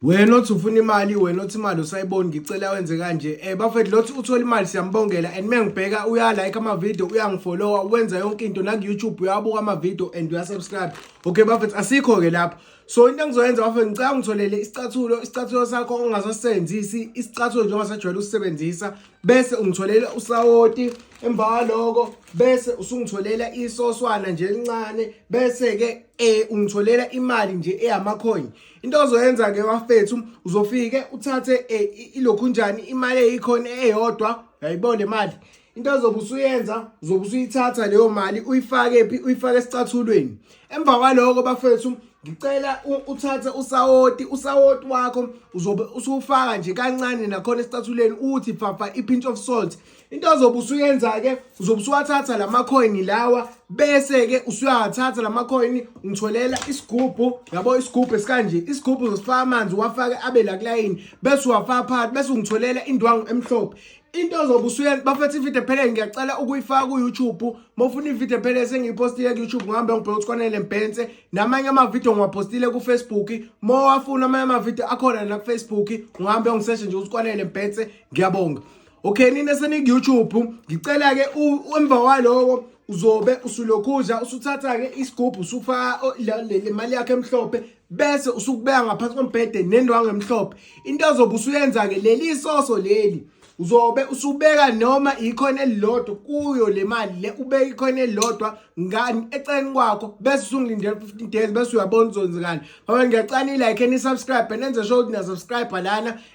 wena othi ufuna imali wena othi imali usayiboni ngicela wenze kanje um bafethu lothi uthola imali siyambongela and uma ngibheka uyalike amavidiyo uyangifollowa wenza yonke into naku-youtube uyawabuka amavidiyo and uyasubscribe okay bafethu asikho-ke lapho so into engizoyenza bafethu ngicela ungitholele isicathulo isicathulo sakho ongasasisebenzisi isicathulo njengoba sajwayele usisebenzisa bese ungitholele usawoti emva kwaloko bese usungitholela isoswana nje elincane bese-ke um ungitholela imali nje eyamakhoyini into ozoyenza ke bafethu uzofike uthathe eh, ilokhu njani imali eyikhona eyodwa yayibona le mali into ozobe usuyenza uzobe usuyithatha leyo mali uyifake phi uyifake esicathulweni emva kwaloko bafethu ngicela uthathe usawoti usawoti wakho uzobe usuwufaka nje kancane nakhona esicathulweni uthi phafa i-pinch of salt into ozobe usuyenza-ke uzobe usuwathatha la makhoyini lawa bese-ke usuyawathatha la makhoyini ngitholela isigubhu yabo isigubhu esikanje isigubhu uzosifaka amanzi uwafake abe la kulayini bese uwafaka phakathi bese ungitholela indwangu emhlophe into ozobe usuyenza bafethu ividiyo ephelele ngiyacela ukuyifaka ku-youtube uma ufuna ividiyo ephelele sengiyiphostile ku-youtube ngihambe ngibheke ukuthi kwanele mbhense namanye amavidiyo ngiwaphostile kufacebook uma wafuna amanye amavidiyo akhona nakufacebook ngihambe ngiseshe nje ukuthi kwanele mbhense ngiyabonga okay nina seniku-youtube ngicela-ke emva kwaloko uzobe usulokhudla usuthatha-ke isigubhu usufaka le mali yakho emhlophe bese usukubeka ngaphansi kombhede nendwangu emhlophe into ozobe usuyenza-ke leli isoso leli uzobe usubeka noma ikhona elilodwa kuyo le mali le ubeka ikhona elilodwa ngani eceleni kwakho bese usungilindela 15 days bese uyabona uzonzekani ngoba ngiyacana i-like and i-subscribe nenze sure ukuthi na-subscribe lana